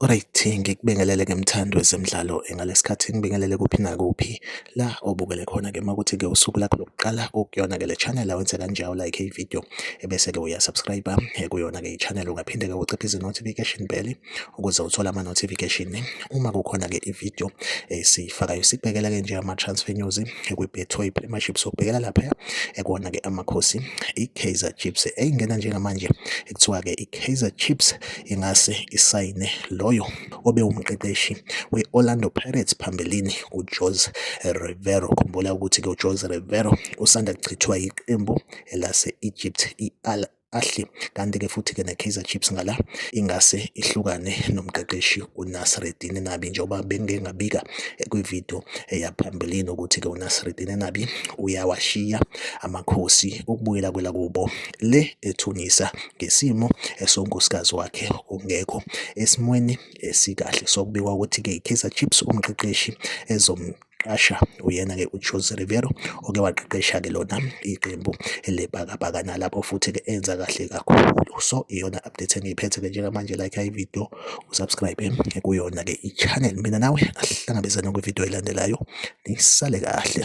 Alright, ngikubingelele ke mthandi wezemidlalo ngalesikhathi ngibingelele kuphi nakuphi la obukele khona ke makuthi ke usuku lakho lokuqala ukuyona ke le channel awenze kanjalo like ivideo ebese-ke uyasubscribe eh, kuyona-ke i-channel ungaphinde-ke uciphe izi-notification bell ukuze uthole ama-notification uma kukhona-ke i-video esiyifakayo eh, sikubhekela-ke nje ama-transfer news eh, kwi-betway premiership sokubhekela laphaya ekona-ke amakhosi i-kaizer chips eyingena njengamanje ekuthiwa-ke i-kaizer chips ingase isayine loyo obe umqeqeshi we-orlando pirates phambilini ujose rivero khumbula ukuthi-ke ujose rivero usanda kuchithwa yiqembu elase-Egypt i-Al Ahly kanti-ke futhi-ke ne-Kaizer Chiefs ngala ingase ihlukane nomqeqeshi uNasreddine Nabi njengoba bengike ngabika eh, kwividiyo eyaphambilini eh, ukuthi-ke uNasreddine Nabi uyawashiya amakhosi ukubuyela kwelakubo le ethunisa ngesimo esonkosikazi wakhe ongekho esimweni esikahle sokubikwa ukuthi-ke i-Kaizer Chiefs umqeqeshi ezom qasha uyena-ke uJose Riveiro oke waqeqesha-ke lona iqembu lebhakabhaka nalapho futhi-ke enza kahle kakhulu so iyona update engiyiphethe-ke njengamanje like ividiyo usubscribe kuyona-ke i-channel mina nawe asihlangabezane kwividiyo elandelayo nisale kahle